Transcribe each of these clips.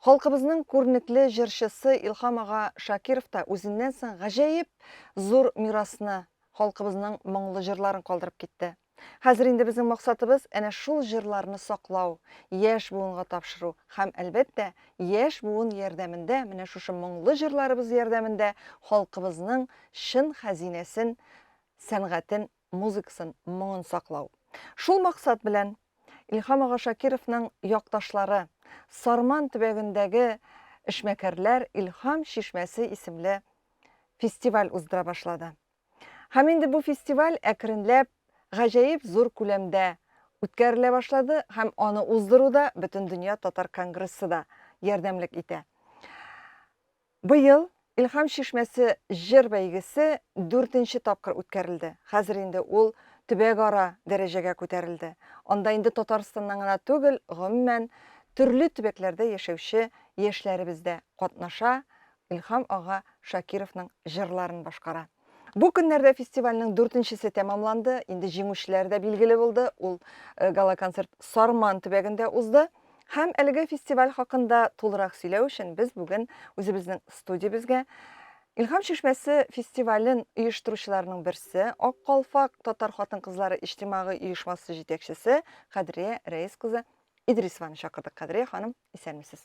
Халкыбызның күренекле җырчысы Илһам ага Шакиров та үзеннән соң гаҗәеп зур мирасны, халкыбызның моңлы җырларын калдырып китте. Хәзер инде безнең максатыбыз әнә шул җырларны саклау, яшь буынга тапшыру һәм, әлбәттә, яшь буын ярдәмендә, менә шушы моңлы җырларыбыз ярдәмендә халкыбызның чын хәзинәсен, сәнгатен музыкасын, моңын саклау. Шул максат белән Илһам ага Шакировның якташлары, Сарман төбәгендәге эшмәкәрләр Илһам чишмәсе исемле фестиваль уздыра башлады. Һәм инде бу фестиваль әкренләп гаҗәеп зур күләмдә үткәрелә башлады һәм аны уздыруда Бөтендөнья татар конгрессы да ярдәмлек итә. Быел Илһам чишмәсе җыр бәйгесе дүртенче тапкыр үткәрелде. Хәзер инде ул төбәгара дәрәҗәгә күтәрелде. Анда инде Татарстаннан гына түгел, гомумән, төрле төбәкләрдә яшәүче яшьләребез дә катнаша, Илһам ага Шакировның җырларын башкара. Бу көннәрдә фестивальнең дүртенчесе тәмамланды. Инде җиңүчеләр дә билгеле булды. Ул э, гала-концерт Сарман төбәгендә узды. Һәм әлеге фестиваль хакында тулырак сөйләү өчен без бүген үзебезнең студиябезгә Илһам чишмәсе фестивален оештыручыларның берсе, Ак калфак татар хатын-кызлары иҗтимагый оешмасы җитәкчесе Кадрия Рәис кызы Идрисованы чакырдык. Кадрия ханым, Исәнмесез.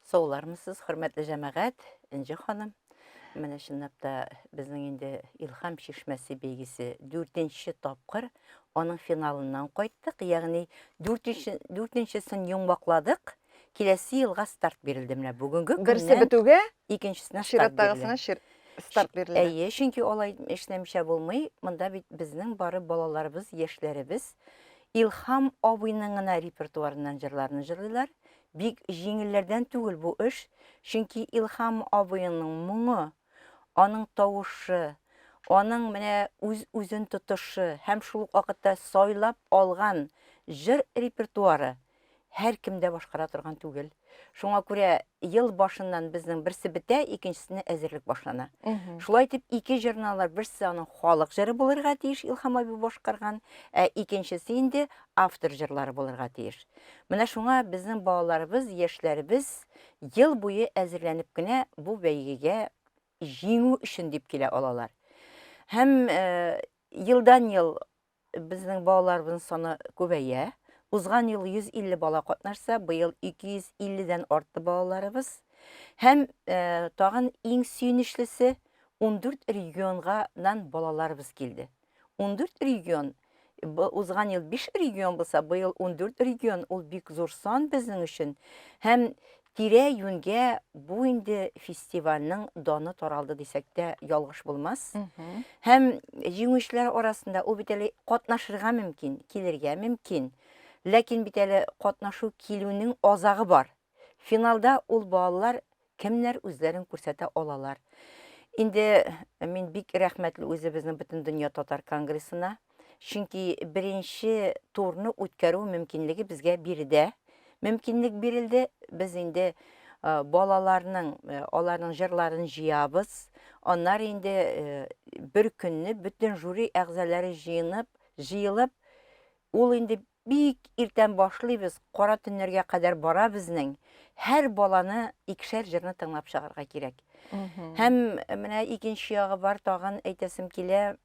Саулармысыз, хөрмәтле җәмәгать, Энҗе ханым. Менә чынлап та безнең инде Илхам чишмәсе бәйгесе дүртенче тапкыр аның финалыннан кайттык. Ягъни дүртенче дүртенчесен йомбакладык. Киләсе елга старт бирелде менә бүгенге көннән. Берсе бетүгә икенчесенә старт чираттагысына старт бирелде. Әйе, чөнки алай эшләмичә булмый. Монда бит безнең бары балаларыбыз, яшьләребез Илһам абыйның гына репертуарыннан җырларны җырлыйлар. Бик җиңелләрдән түгел бу эш, чөнки Илһам абыеңның моңы, аның тавышы, аның менә үз-үзен тотышы һәм шул ук вакытта сайлап алган җыр репертуары һәркем дә башкара торган түгел. Шуңа күрә ел башыннан безнең берсе бетә, икенчесенә әзерлек башлана. Шулай итеп, ике җырналар берсе аның халык җыры булырга тиеш, Илһам абый башкарган, ә икенчесе инде автор җырлары булырга тиеш. Менә шуңа безнең балаларыбыз, яшьләребез ел буе әзерләнеп кенә бу бәйгегә җиңү өчен дип килә алалар. Һәм э, елдан-ел Безнең балаларыбызның саны күбәя. Узган ел 150 бала катнашса, быел 250 дән артты балаларыбыз. Һәм тагын иң сөенечлесе, 14 регионга нан балаларыбыз килде. 14 регион, узган ел 5 регион булса, быел 14 регион, ул бик зур сан безнең өчен. Һәм Тирә-юньгә бу инде фестивальнең даны таралды дисәк тә ялгыш булмас. Һәм җиңүчеләр арасында ул бит әле катнашырга мөмкин, килергә мөмкин. Ләкин бит әле катнашу килүнең азагы бар. Финалда ул балалар кемнәр үзләрен күрсәтә алалар. Инде мин бик рәхмәтле үзебезнең Бөтендөнья татар конгрессына, Чөнки беренче турны үткәрү мөмкинлеге безгә биредә мөмкинлек бирелде. Без инде э, балаларның э, аларның җырларын җыябыз. Аннар инде э, бер көнне бөтен жюри әгъзалары җыенып, җыелып, ул инде бик иртән башлыйбыз, кара төннәргә кадәр бара безнең. Һәр баланы икешәр җырны тыңлап чыгарга кирәк. Һәм менә икенче ягы бар, тагын әйтәсем килә,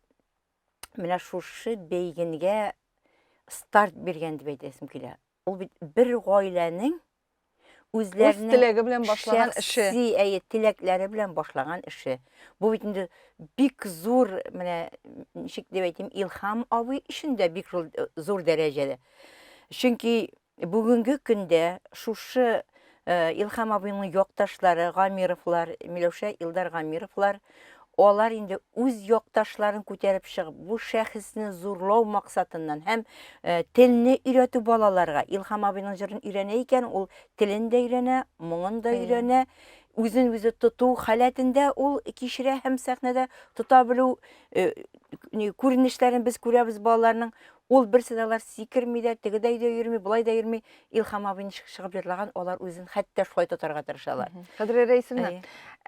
менә шушы бәйгенгә старт биргән дип әйтәсем килә. Ул бит бер гаиләнең үзләренең теләге белән башлаган эше. Шәхси әйе, теләкләре белән башлаган эше. Бу бит инде бик зур, менә ничек дип әйтим, Илһам абый өчен дә бик зур дәрәҗәдә. Чөнки Бүгенге көндә шушы Илхам абыйның якташлары Гамировлар, Миләүшә Илдар Гамировлар, алар инде үз якташларын күтәреп чыгып, бу шәхесне зурлау максатыннан һәм телне өйрәтү балаларга, Илхам абыйның җырын өйрәнә икән, ул телен дә өйрәнә, моңын да өйрәнә, үзен үзе тоту халәтендә ул кичерә һәм сәхнәдә тота белү күренешләрен без күрәбез балаларның. Ул берсе дә алар сикерми дә, теге дә өйдә йөрми, болай да йөрми. Илхам абый ничек чыгып җырлаган, алар үзен хәтта шулай тотарга тырышалар. Кадерле Рәисемна,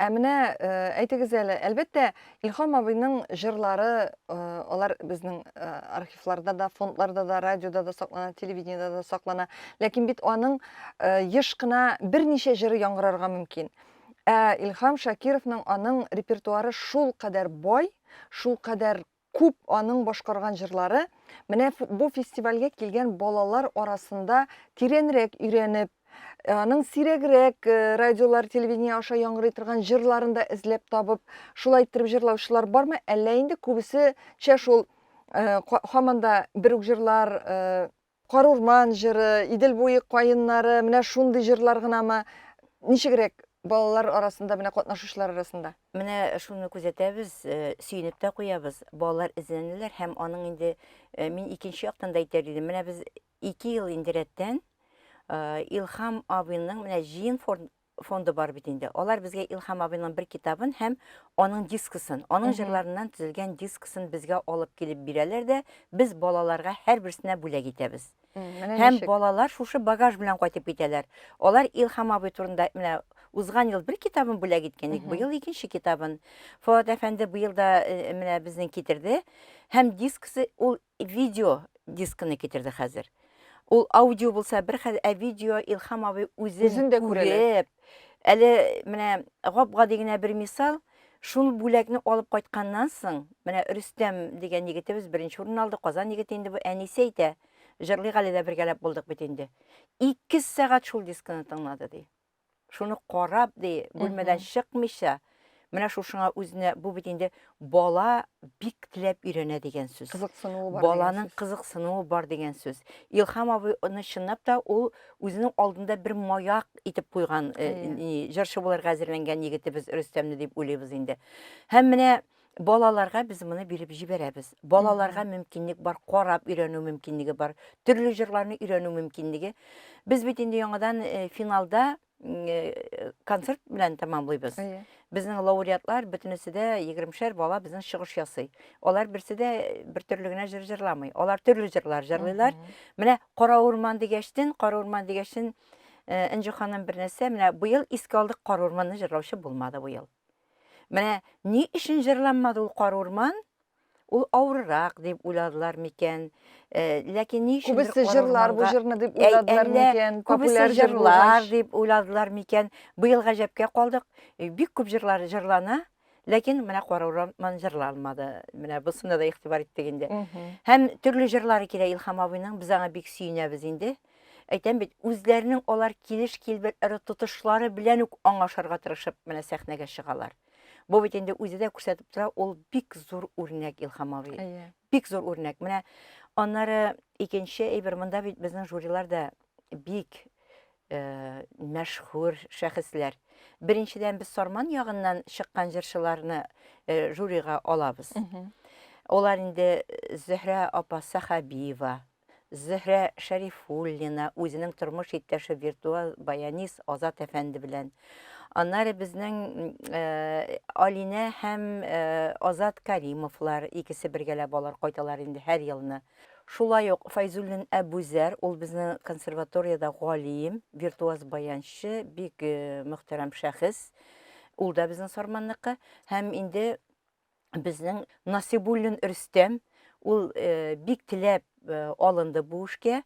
ә менә э, әйтегез әле, әлбәттә, Илхам абыйның җырлары, э, алар безнең э, архивларда да, фондларда да, радиода да саклана, телевидениедә да саклана. Ләкин бит аның еш кына берничә җыры яңгырарга мөмкин. Ә Илхам Шакировның аның репертуары шул кадәр бай, шул кадәр Күп аның башкарган җырлары менә бу фестивальгә килгән балалар арасында тирәнрәк өйрәнеп, аның сирәгрәк радиолар, телевидение аша яңгырый торган җырларын да эзләп табып, шулай иттереп җырлаучылар бармы, әллә инде күбесечә шул хаманда бер үк җырлар Карурман җыры, Идел буе каеннары, менә шундый җырлар гынамы? Ничегрәк балалар арасында, менә катнашучылар арасында? Менә шуны күзәтәбез, сөенеп тә куябыз, балалар эзләнәләр һәм аның инде, мин икенче яктан да әйтәр идем, менә без ике ел инде рәттән Илһам абыйның менә җыен фонды бар бит инде. Алар безгә Илһам абыйның бер китабын һәм аның дискысын, аның җырларыннан төзелгән дискысын безгә алып килеп бирәләр дә, без балаларга һәрберсенә бүләк итәбез. Һәм балалар шушы багаж белән кайтып китәләр. Алар Илһам абый турында менә узган ел бер китабын бүләк иткән идек, быел икенче китабын. Фоат әфәнде быел да э, менә безнең китерде. Һәм дискысы ул Видео дискыны китерде хәзер. Ул аудио булса бер хәл, ә видео Илхам абый үзен күреп, әле менә гап-гади генә бер мисал, шул бүләкне алып кайтканнан соң, менә Рөстәм дигән егетебез беренче урын алды, Казан егете инде бу, әнисе әйтә, җырлыйк әле дә бергәләп булдык бит инде. Ике сәгать шул дискыны тыңлады, ди. шуны карап, ди, бүлмәдән чыкмыйча, менә шушыңа үзенә, бу бит инде бала бик теләп өйрәнә дигән сүз. Кызыксынуы бар. Баланың кызыксынуы бар дигән сүз. Илхам абый аны чынлап та ул үзенең алдында бер маяк итеп куйган, э, җырчы буларга әзерләнгән егетебез Рөстәмне дип уйлыйбыз инде. Һәм менә Балаларга без моны биреп җибәрәбез. Балаларга мөмкинлек бар, карап өйрәнү мөмкинлеге бар, төрле җырларны өйрәнү мөмкинлеге. Без бит инде яңадан э, финалда э, концерт белән тәмамлыйбыз. Әйе. Безнең лауреатлар бөтенесе дә егеремшәр бала безнең чыгыш ясый. Алар берсе дә э, бер төрле генә җыр җырламый. Алар төрле җырлар җырлыйлар. Менә Кара урман дигәчтен, Кара урман дигәчтен э, Энҗе ханым бер нәрсә, менә быел искә алдык Кара урманны җырлаучы булмады быел. Менә ни өчен җырланмады ул Кар урман? Ул авыррак дип уйладылар микән? Ләкин ни өчен Күбесе җырлар бу җырны дип уйладылар микән? Күбесе җырлар дип уйладылар микән? Быел гаҗәпкә калдык. Бик күп җырлар җырлана, ләкин менә Кар урман җырланмады. Менә бусына да игътибар иттек инде. Һәм төрле җырлары килә Илһам абыйның. Без аңа бик сөенәбез инде. Әйтәм бит, үзләренең алар килеш-килбәтләре, тотышлары белән үк аңлашырга тырышып менә сәхнәгә чыгалар. Бу бит инде үзе дә күрсәтеп тора, ул бик зур үрнәк Илһам абый. Әйе. Бик зур үрнәк. Менә аннары икенче әйбер, монда бит безнең жюрилар да бик э, мәшһүр шәхесләр. Беренчедән без Сарман ягыннан чыккан җырчыларны э, жюрига алабыз. Мгм. Олар инде э, Зөһрә апа Сахабиева, Зөһрә Шәрифуллина үзенең тормыш иптәше виртуал баянист Азат әфәнде белән. Аннары безнең Алинә һәм Азат Каримовлар икесе бергәләп алар кайталар инде һәр елны. Шулай ук Файзуллин Әбүзәр, ул безнең консерваториядә галим, виртуаз баянчы, бик мөхтәрәм шәхес. Ул да безнең Сарманныкы. Һәм инде безнең Насыйбуллин Рөстәм, ул бик теләп алынды бу эшкә.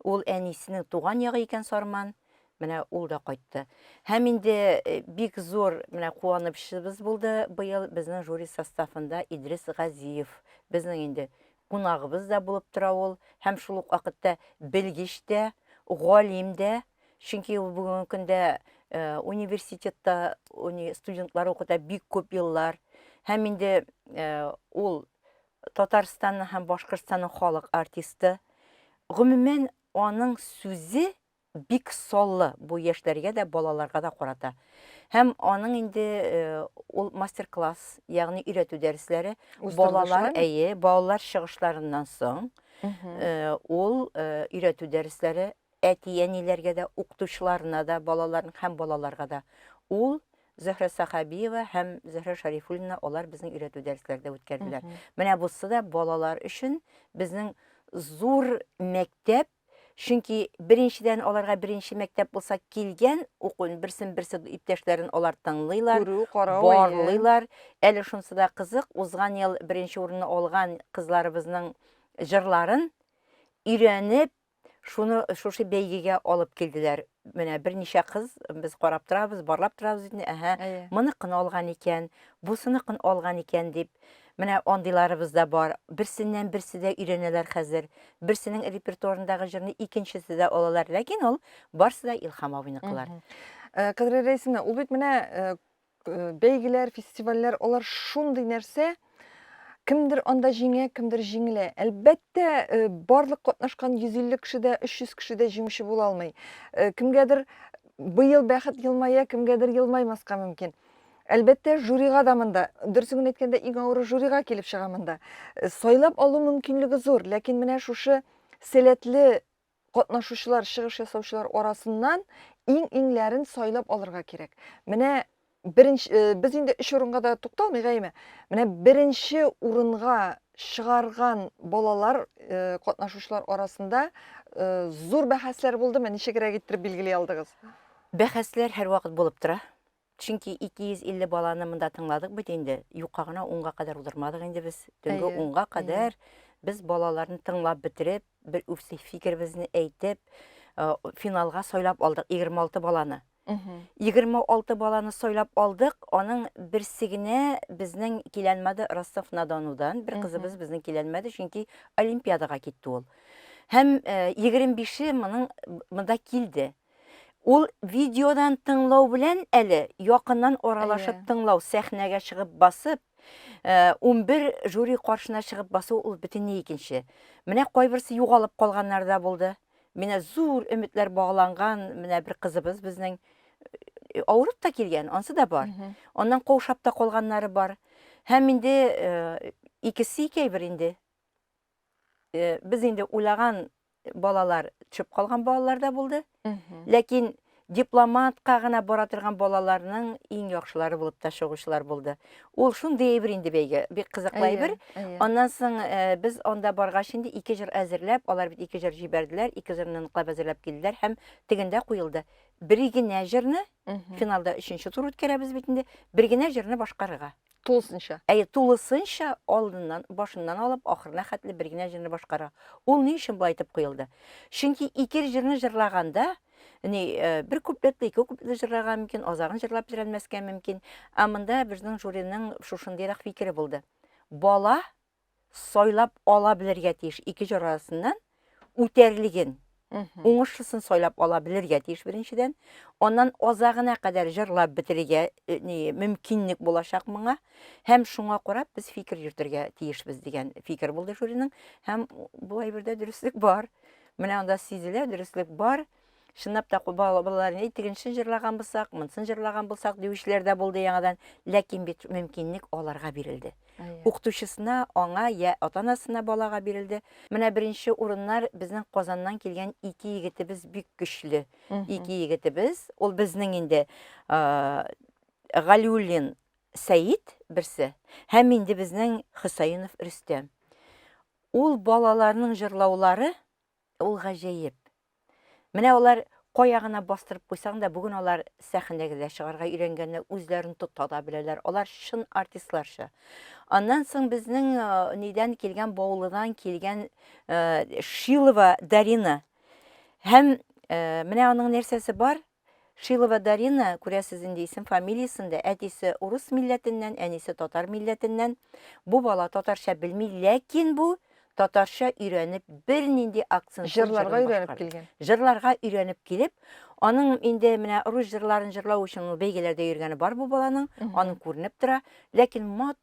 Ул әнисенең туган ягы икән Сарман. Менә ул да кайтты. Һәм инде бик зур менә куанычыбыз булды быел безнең жюри составында Идрис Газиев. Безнең инде кунагыбыз да булып тора ул. Һәм шул ук вакытта белгеч тә, галим дә. Чөнки ул бүгенге көндә э, университетта уни, студентлар укыта бик күп еллар. Һәм инде э, ул Татарстанның һәм Башкортстанның халык артисты. Гомумән, аның сүзе бик соллы бу яшьләргә дә, балаларга да карата. Һәм аның инде э, ул мастер-класс, ягъни өйрәтү дәресләре балалар, әйе, балалар чыгышларыннан соң э, ул э, өйрәтү дәресләре әти-әниләргә дә, укытучыларына да, балаларның һәм балаларга да. Ул Зөһрә Сахабиева һәм Зөһрә Шарифуллина алар безнең өйрәтү дәресләрдә үткәрделәр. Менә бусы да балалар өчен безнең зур мәктәп, чөнки беренчедән аларга беренче мәктәп булса килгән укуын берсен-берсе иптәшләрен алар тыңлыйлар, Күрү, карау, әйе. барлыйлар. Әле шунысы да кызык, узган ел беренче урынны алган кызларыбызның җырларын өйрәнеп, Шуны шушы бәйгегә алып килделәр. Менә берничә кыз без карап торабыз, барлап торабыз бит, әһә, мыныкын алган икән, бусыныкын алган икән дип. Менә андыйларыбыз да бар. Берсеннән берсе дә өйрәнәләр хәзер. Берсенең репертуарындагы җырны икенчесе дә алалар, ләкин ул барсы да Илһам абыйныкылар. Кадерле Рәйсинә, ул бит менә Бәйгеләр, фестивальләр, алар шундый нәрсә, кемдер анда җиңә, кемдер җиңелә. Әлбәттә, э, барлык катнашкан 150 кеше дә, 300 кеше дә җиңүче була алмый. Э, кемгәдер быел бәхет елмая, кемгәдер елмаймаска мөмкин. Әлбәттә, жюрига да монда, дөресен генә әйткәндә, иң авыры жюрига килеп чыга монда. Э, сайлап алу мөмкинлеге зур, ләкин менә шушы сәләтле Катнашучылар, чыгыш ясаучылар арасыннан иң-иңләрен сайлап алырга кирәк. Менә беренче, э, без инде өч урынга да тукталмыйгаймы? Менә беренче урынга чыгарган балалар э, катнашучылар арасында э, зур бәхәсләр булдымы? Ничегрәк иттереп билгели алдыгыз? Бәхәсләр һәрвакыт булып тора. Чөнки 250 баланы монда тыңладык бит инде. Юкка гына унга кадәр уздырмадык инде без. Төнге Әйе, унга әйе. кадәр без балаларны тыңлап бетереп, бер үз фикеребезне әйтеп, э, финалга сайлап алдык 26 баланы. Мгм. 26 баланы сайлап алдык. Аның берсе генә безнең киләнмәде Ростов-на-Донудан. Бер Мгм. кызыбыз безнең киләнмәде, чөнки олимпиадага китте ул. Һәм э, 25-е моның монда килде. Ул видеодан тыңлау белән әле якыннан аралашып Әйе. тыңлау, сәхнәгә чыгып басып, э, унбер жюри каршына чыгып басу ул бөтенләй икенче. Менә кайберсе югалып калганнар да булды. Менә зур өметләр багланган, менә бер кызыбыз безнең э, авырып та килгән, ансы да бар. Мгм. Аннан каушап та калганнары бар. Һәм инде э, икесе икәйбер инде. без инде уйлаган балалар төшеп калган балалар да булды. Ләкин дипломатка гына бара торган балаларның иң яхшылары булып та чыгучылар булды. Ул шундый әйбер инде бәйге, бик кызыклы әйбер. Аннан соң э, без анда баргач инде ике җыр әзерләп, алар бит ике җыр җибәрделәр, ике җырны ныклап әзерләп килделәр һәм тегендә куелды. Бер генә җырны финалда өченче тур үткәрәбез бит инде, бер генә җырны башкарырга. Тулысынча. Әйе, тулысынча алдыннан, башыннан алып, ахырына хәтле бер генә җырны башкара. Ул ни өчен болай итеп куелды? Чөнки ике җырны җырлаганда, ни, э, бер куплетлы, ике куплетлы җырлаган мөмкин, азагын җырлап бетерәлмәскә мөмкин. Ә монда безнең жюриның шушындыйрак фикере булды. Бала сайлап ала белергә тиеш ике җыр арасыннан үтәрлеген уңышлысын сайлап ала белергә тиеш беренчедән аннан азагына кадәр җырлап бетерергә э, мөмкинлек булачак моңа һәм шуңа карап без фикер йөртергә тиешбез дигән фикер булды жюриның һәм бу әйбердә дөреслек бар менә анда сизелә дөреслек бар Чынлап та балалар ни тегенчен җырлаган булсак, монсын җырлаган булсак диючеләр дә булды яңадан, ләкин бит мөмкинлек аларга бирелде. Укытучысына, аңа я ата-анасына балага бирелде. Менә беренче урыннар безнең Казаннан килгән ике егетебез бик көчле. Ике егетебез, ул безнең инде Галиуллин Сәид берсе һәм инде безнең Хөсәенов Рөстәм. Ул балаларның җырлаулары Ул гаҗәеп. Менә алар кая гына бастырып куйсаң да, бүген алар сәхнәгә дә чыгарга өйрәнгәннәр, үзләрен тота да беләләр. Алар чын артистларча. Аннан соң безнең э, нидән килгән, Баулыдан килгән э, Шилова Дарина. Һәм э, менә аның нәрсәсе бар, Шилова Дарина, күрәсез инде исем-фамилиясен дә, әтисе урыс милләтеннән, әнисе татар милләтеннән. Бу бала татарча белми, ләкин бу татарча өйрәнеп, бернинди акцентсыз җырын башкарды. Җырларга өйрәнеп килгән. Җырларга өйрәнеп килеп, аның инде менә рус җырларын җырлау өчен ул бәйгеләрдә йөргәне бар бу баланың, аның күренеп тора. Ләкин матур.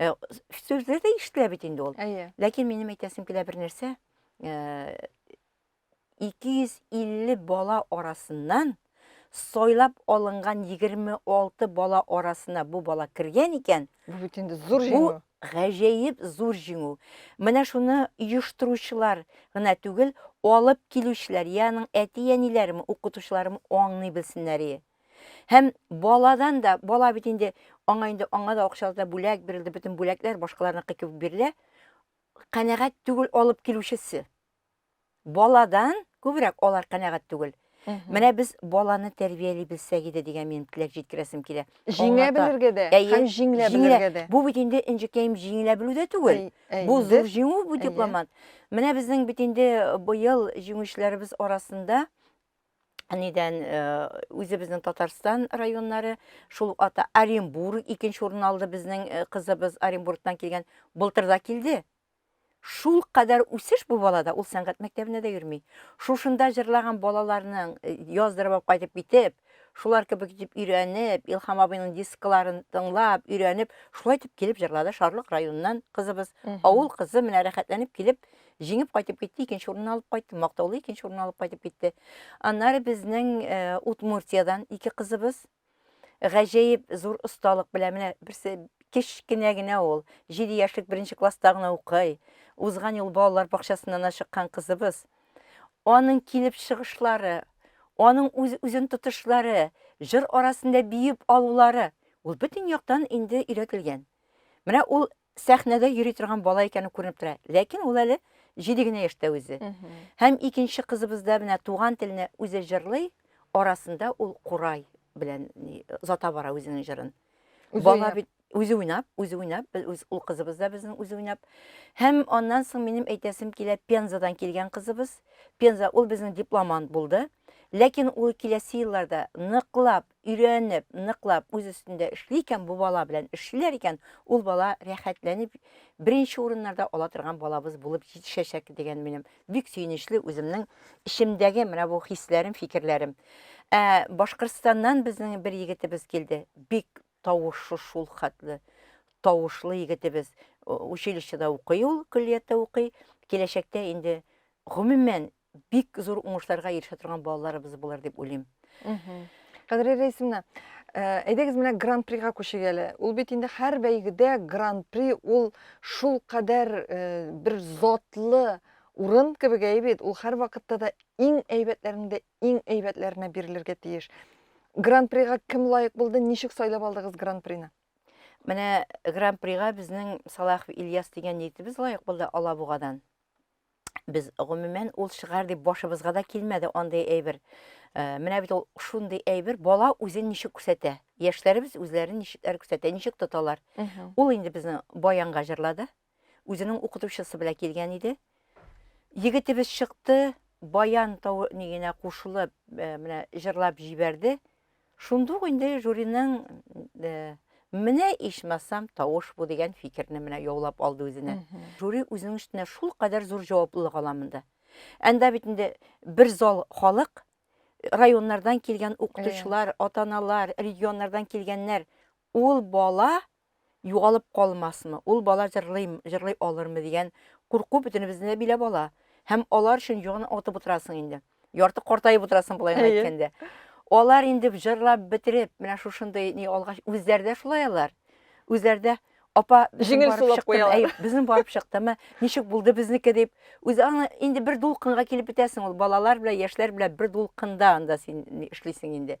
Э, Сүзләр дә ишетелә бит инде ул. Әйе. Ләкин минем әйтәсем килә бер нәрсә. Э, 250 бала арасыннан сайлап алынган 26 бала арасына бу бала кергән икән, Бу бит инде зур бу җиңү. гаҗәеп зур җиңү. Менә шуны оештыручылар гына түгел, алып килүчеләр, яның әти-әниләрем, укытучыларым аңлый белсеннәр. и. Һәм баладан да, бала бит инде, аңа инде аңа да акчалата бүләк бирелде, бөтен бүләкләр башкаларныкы кебек бирелә. Канәгать түгел алып килүчесе. Баладан күбрәк алар канәгать түгел. Менә без баланы тәрбияли белсәк иде дигән минем теләк җиткерәсем килә. Җиңә белергә дә һәм җиңлә белергә дә. Бу бит инде инҗекәем җиңелә белү дә түгел. Бу зур җиңү бу дипломат. Менә безнең бит инде быел җиңүчеләребез арасында нидән э, үзебезнең Татарстан районнары, шул ук ата Оренбург икенче урын алды безнең э, кызыбыз Оренбургтан килгән, былтыр да килде. Шул кадәр үсеш бу балада, ул сәнгать мәктәбенә дә йөрми. Шушында җырлаган балаларның э, яздырып алып кайтып китеп, шулар кебек итеп өйрәнеп, Илхам абыйның дискларын тыңлап, өйрәнеп, шулай итеп килеп җырлады Шарлык районыннан кызыбыз. Авыл кызы менә рәхәтләнеп килеп Җиңеп кайтып китте, икенче урынны алып кайтты, мактаулы икенче урынны алып кайтып китте. Аннары безнең э, Удмуртиядән ике кызыбыз гаҗәеп зур осталык белән менә берсе кечкенә генә ул, 7 яшьлек беренче класста гына укый. Узган ел балалар бакчасыннан ашыккан кызыбыз. Аның килеп чыгышлары, аның үз, үзен тотышлары, җыр арасында биеп алулары, ул бөтен яктан инде өйрәтелгән. Менә ул сәхнәдә йөри торган бала икәне күренеп тора. Ләкин ул әле җиде генә яшьтә үзе. Һәм икенче кызыбызда менә туган теленә үзе җырлый, арасында ул курай белән озата бара үзенең җырын. Бала бит үзе уйнап, үзе уйнап, ул кызыбыз да безнең үзе уйнап. Һәм аннан соң минем әйтәсем килә, Пензадан килгән кызыбыз. Пенза ул безнең дипломант булды. Ләкин ул киләсе елларда ныклап өйрәнеп, ныклап үз өстендә эшли икән, бу бала белән эшлиләр икән, ул бала рәхәтләнеп беренче урыннарда ала торган балабыз булып җитешәчәк дигән минем бик сөенечле үземнең эчемдәге менә бу хисләрем, фикерләрем. Ә Башкортстаннан безнең бер егетебез килде. Бик тавышы шул хәтле тавышлы егетебез. Училищеда укый ул, көллияттә укый. Киләчәктә инде гомумән бик зур уңышларга ирешә торган балаларыбыз булыр дип уйлыйм. Кадри Рәисовна, э, әйдәгез менә гран-прига күчик әле. Ул бит инде һәр бәйгедә гран-при ул шул кадәр э, бер затлы урын кебек әй бит. Ул һәр вакытта да иң әйбәтләрнең дә иң әйбәтләренә бирелергә тиеш. Гран-прига кем лаек булды, ничек сайлап алдыгыз гран-прины? Менә гран-прига безнең Салахов Ильяс дигән егетебез лаек булды Алабугадан. Без, гомумән, ул чыгар дип башыбызга да килмәде андый әйбер. Э, менә бит ул шундый әйбер, бала үзен ничек күрсәтә. Яшьләребез үзләрен ничекләр күрсәтә, ничек тоталар. Ул инде безнең баянга җырлады. Үзенең укытучысы белән килгән иде. Егетебез чыкты, баян тау нигенә кушылып, э, менә җырлап җибәрде. Шундук инде жюриның Менә ичмасам тавыш бу дигән фикерне менә яулап алды үзенә. Жюри үзенең өстенә шул кадәр зур җаваплылык ала монда. Анда бит инде бер зал халык, районнардан килгән укытучылар, ата-аналар, регионнардан килгәннәр. Ул бала югалып калмасмы, ул бала җырлыймы, җырлый алырмы дигән курку бөтенебезне дә биләп ала. Һәм алар өчен югын отып утырасың инде. Ярты картаеп утырасың болай гына әйткәндә. Алар инде җырлап бетереп, менә шушындый ни алгач, үзләре дә шулай алар. Үзләре дә апа җиңел сулап куялар. Безнең барып чыктымы, ничек булды безнеке дип, үзе аны инде бер дулкынга килеп бетәсең ул балалар белән, яшьләр белән бер дулкында анда син эшлисең инде.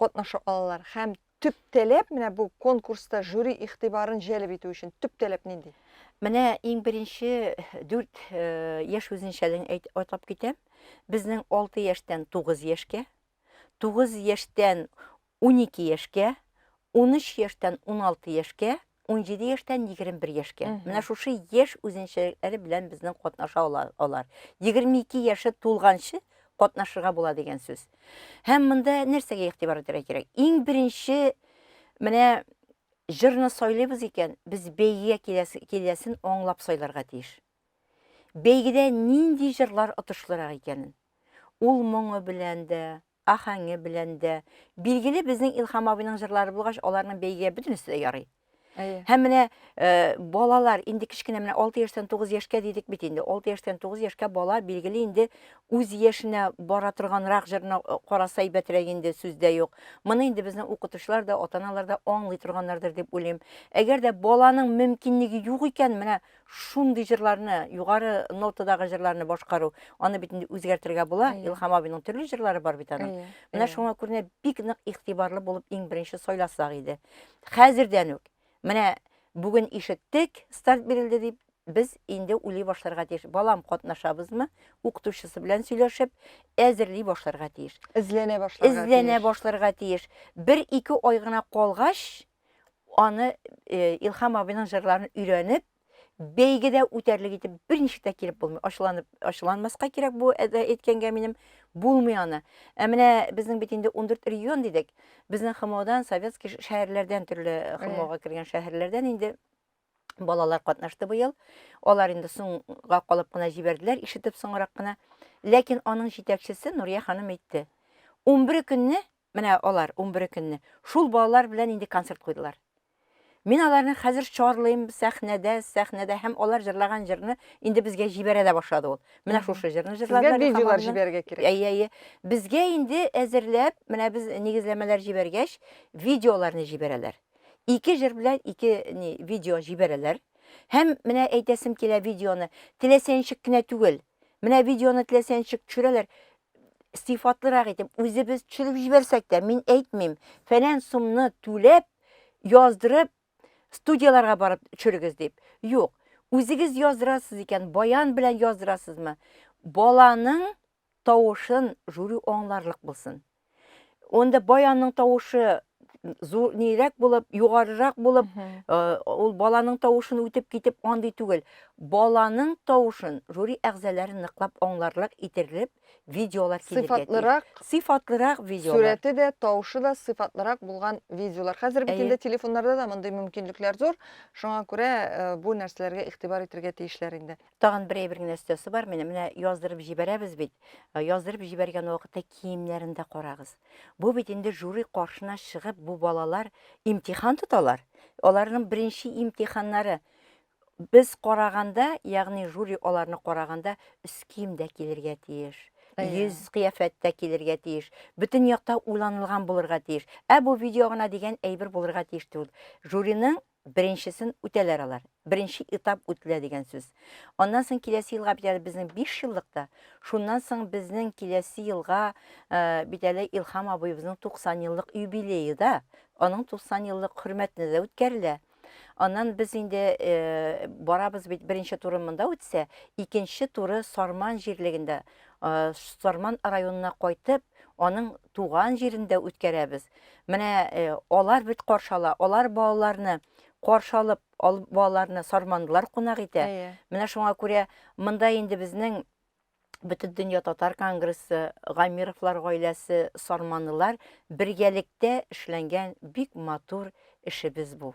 катнаша алалар һәм төп таләп менә бу конкурста жюри игътибарын җәлеп итү өчен төп таләп нинди? Менә иң беренче дүрт яшь үзенчәлеген атап китәм. Безнең алты яшьтән тугыз яшькә, тугыз яшьтән унике яшькә, унөч яшьтән уналты яшькә 17 яшьтән 21 яшькә. Менә шушы яшь үзенчәлекләре белән безнең катнаша алар. 22 яше тулганчы катнашырга була дигән сүз. Һәм монда нәрсәгә игътибар итәргә кирәк? Иң беренче менә җырны сайлыйбыз икән, без бәйгегә киләсен аңлап сайларга тиеш. Бәйгедә нинди җырлар отышлырак икәнен. Ул моңы белән дә, ахәңе белән дә. Билгеле, безнең Илхам абыйның җырлары булгач, аларның бәйгегә бөтенесе дә ярый. Әйе. Һәм менә э, балалар инде кечкенә менә 6 яшьтән 9 яшькә дидек бит инде. 6 яшьтән 9 яшькә бала билгеле инде үз яшенә бара торганрак җырны э, караса әйбәтрәк инде сүз дә юк. Моны инде безнең укытучылар да, ата-аналар да аңлый торганнардыр дип уйлыйм. Әгәр дә баланың мөмкинлеге юк икән, менә Шундый җырларны, югары нотадагы җырларны башкару, аны бит инде үзгәртергә була. Әйе. Илһам абыйның төрле җырлары бар бит аның. Әйе, Менә әйе. шуңа күренә бик нык игътибарлы булып иң беренче сайласак иде. Хәзердән үк менә бүген ишеттек, старт бирелде дип, без инде уйлый башларга тиеш. Балам катнашабызмы? Укытучысы белән сөйләшеп, әзерли башларга тиеш. Эзләнә башларга Эзләнә тиеш. башларга тиеш. Бер-ике ай гына калгач, аны э, Илхам абыйның җырларын өйрәнеп, бәйгедә үтәрлек итеп берничек тә килеп булмый. Ачуланып, ачуланмаска кирәк бу әдә әйткәнгә минем булмый аны. Ә менә безнең бит инде 14 регион дидек. Безнең ХМОдан, советский шәһәрләрдән төрле ХМОга кергән шәһәрләрдән инде балалар катнашты быел. Алар инде соңга калып кына җибәрделәр, ишетеп соңрак кына. Ләкин аның җитәкчесе Нурия ханым әйтте. 11 көнне Менә алар унбере көнне шул балалар белән инде концерт куйдылар. Мин аларны хәзер чарлыйм, сәхнәдә, сәхнәдә һәм алар җырлаган җырны инде безгә җибәрә дә башлады ул. Менә шушы җырны җырладылар Сезгә видеолар җибәрергә кирәк. Әйе, әйе. Безгә инде әзерләп, менә без нигезләмәләр җибәргәч, видеоларны җибәрәләр. Ике җыр белән ике ни, видео җибәрәләр. Һәм менә әйтәсем килә видеоны, теләсә ничек кенә түгел. Менә видеоны теләсә ничек төшерәләр, сыйфатлырак итеп үзебез төшереп җибәрсәк тә, мин әйтмим, фәлән сумны түләп, яздырып, студияләргә барып төшерегез дип. Юк, үзегез яздырасыз икән, баян белән яздырасызмы? Баланың тавышын жюри аңларлык булсын. Онда баянның тавышы зур нирәк булып, югарырак булып, э, ул баланың тавышын үтеп китеп андый түгел. Баланың тавышын жюри әгъзалары ныклап аңларлык итерлек видеолар килергә тиеш. Сыйфатлырак, Сыйфатлырак видеолар. сурәте дә, тавышы да сыйфатлырак булган видеолар. Хәзер бит Әйе. инде телефоннарда да мондый мөмкинлекләр зур. Шуңа күрә э, бу нәрсәләргә игътибар итәргә тиешләр инде. Тагын бер әйбер генә өстәсе бар, менә менә яздырып җибәрәбез бит. Э, яздырып җибәргән вакытта киемнәрен дә карагыз. Бу бит инде жюри каршына чыгып, бу балалар имтихан тоталар. Аларның беренче имтиханнары. Без караганда, ягъни жюри аларны караганда, өс киемдә килергә тиеш. Йөз кыяфәттә килергә тиеш. Бөтен якта уйланылган булырга тиеш. Ә бу видео гына дигән әйбер булырга тиеш түгел. Жюриның Беренчесен үтәләр алар. Беренче этап үтелә дигән сүз. Аннан соң киләсе елга бит әле безнең биш еллык та. Шуннан соң безнең киләсе елга бит әле Илһам абыебызның 90 еллык юбилее да. Аның 90 еллык хөрмәтенә дә үткәрелә. Аннан без инде барабыз бит, беренче туры монда үтсә, икенче туры Сарман җирлегендә, Сарман районына кайтып, аның туган җирендә үткәрәбез. Менә э, алар бит каршы ала, алар балаларны каршы алып, ал, балаларны сармандылар кунак итә. Әйе. Менә шуңа күрә монда инде безнең бөтен дөнья татар конгрессы, Гамировлар гаиләсе, сарманлылар бергәлектә эшләнгән бик матур эшебез бу.